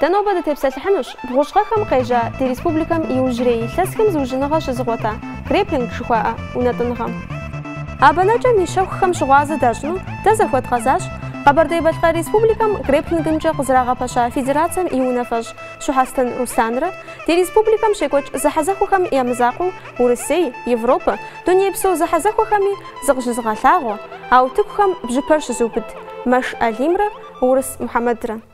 Дэ нобэ дытепсэлъыхьынущ бгъущӏ гъэхэм къежьа ди республикэм иужьрей илъэсхэм зыужьыныгъэ щызыгъуэта Греплинг жыхуаӏэ унэтӏыныгъэм. А бэнэкӏэм и щэхухэм щыгъуазэ дащӏыну дэ захуэдгъэзащ Къэбэрдей-Балъкъэр Республикэм греплингымкӏэ къызэрагъэпэща федерацэм и унафэщӏ Щухьэстэн Руслъанрэ ди республикэм щекӏуэкӏ зэхьэзэхуэхэм я мызакъуэу Урысей, Европэ, дунейпсо зэхьэзэхуэхэми зыкъыщызыгъэлъагъуэ а утыкухэм бжьыпэр щызыубыд Мэш Алимрэ Урыс Мухьэмэдрэ.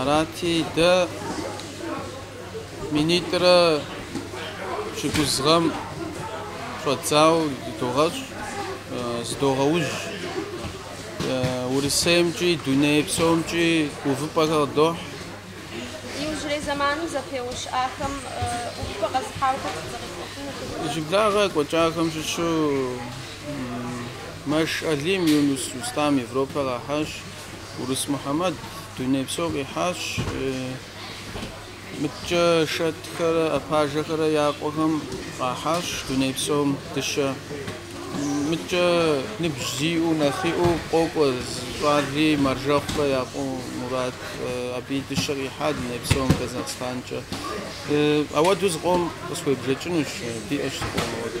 Арати, дэ минитӏрэ пщыкӏуз гъэм щӏэдзауэ дыдогъэщӏ, зыдогъэужь. Урысеймкӏи, дуней псомкӏи увыпӏэхэр къыдохь. Иужьрей зэманым зэпеуэ щыӏахэм увыпӏэ къэзыхьахэр сыт зыкъиплъыфыну дыгъурэ? Иджыблагъэ екӏуэкӏахэм щыщу Мэш Алим Юнус Рустам Европэ къахьащ. Урыс Мухьэмэд дунейпсо къихьащ. Мыткӏэ Шэтхэрэ Апажэхэрэ я къуэхэм къахьащ дуней псом дыщэ. Мыткӏэ ныбжь зиӏэу нэхъиӏэу къокӏуэ зы щӏали Мэржэхъухэ я къуэ Мурат. Абыи дыщэ къихьа дуней псом Казахстанкӏэ. Ауэду зыкъом къысхуебжэкӏынущ, диӏэщ зыкъом ауэду.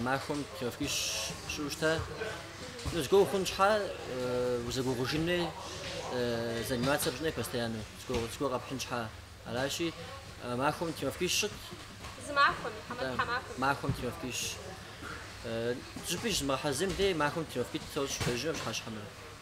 Махуэм тренировкищ сщӏыуэ щыта. Ну, зыгуэ ухъун щхьа, узэгугъужынри, заниматься пщӏынри постоянно, зыгуэ къэпхьын щхьа. Аращи, махуэм тренировкищ сщӏыт. Зы махуэм, хьэмэ тхьэмахуэм? Махуэм тренировкищ. Иджыпсту зыщызмыгъэхьэзырым дей махуэм тренировкитӏ сощӏ, пщэдджыжьымрэ пщыхьэщхьэмрэ.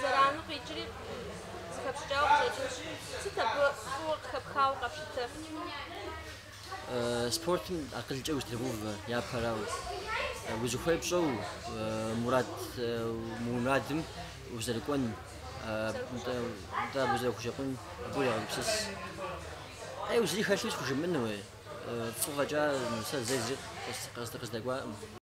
Зэрану къикӏри, зыхэпщӏыкӏауэ къыщӏэкӏынщ. Сыт абы фӏыуэ къыхэпхауэ къэпщытэр? Спортым акъылкӏэ узэтрегъэувэ япэрауэ, узыхуей пщӏэуэ мурад, мы мурадым узэрыкӏуэн, нтӏэ, нтӏэ абы узэрыхущэкъун, абы урегъэгупсыс. Ӏейуэ зыри хэлъу схужымыӏэну, уей, фӏы фӏэкӏа сэ зэи зыри къыз, къыз, къыздэкӏуакъым.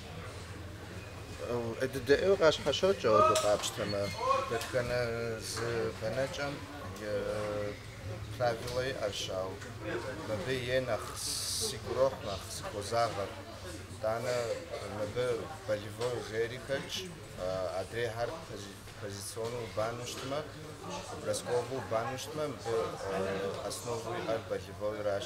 ӏей дыдэ ӏейуэ къащхьэщокӏ ауэду къапщтэмэ, дэтхэнэ зы бэнэкӏэм и правилэ иӏэщ, ауэ мыбы е нэхъ сигу ирохь, нэхъ сыхозагъэр. Итӏанэ мыбы болевой жери хэтщ, адрейхэр позиционнэу убану щытмэ, бросковэу убану щытмэ, мыбы основэу иӏэр болевойращ.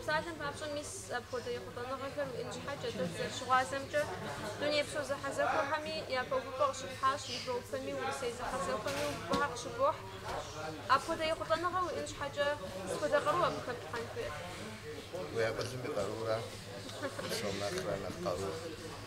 Псалъэм папщӏэ, мис апхуэдэ ехъулӏэныгъэхэр уиӏэн щхьэкӏэ дэ дызэрыщыгъуазэмкӏэ, дунейпсо зэхьэзэхуэхэми япэ увыпӏэ къыщыпхьащ, европэми, урысей зэхьэзэхуэми увыпӏэхэр къыщыбохь. Апхуэдэ ехъулӏэныгъэ уиӏэн щхьэкӏэ, сыт хуэдэ къару абы хэплъхьэн хуейр? Уи акъылым и къарура псом нэхърэ нэхъ къарур.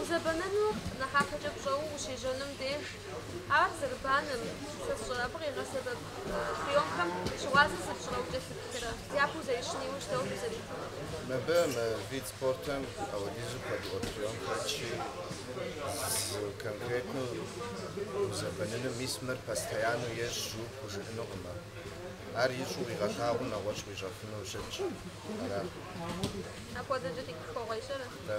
Узэбэныну нэхъапэкӏэ пщӏэуэ ущежьэным деж, ар зэрыбанэм, сэ сщӏэрэ, абы къигъэсэбэп приемхэм щыгъуазэ зыпщӏырэ укӏэлъыплъырэ, япэу зэрищын иужь дауэ фызэрыхъур? Мыбы мы вид спортым ауэдизу куэдыӏуэ прием хэтщи, зы конкретнэу узэбэнынум, мис мыр постояннэу ещӏ жыу пхужыӏэнукъым ар. Ар ищӏу къигъэлъагъуу нэгъуэщӏ къуищӏэфыну щытщ, арат. Апхуэдэкӏэ тегъэхуэгъуейщ, ара? Да.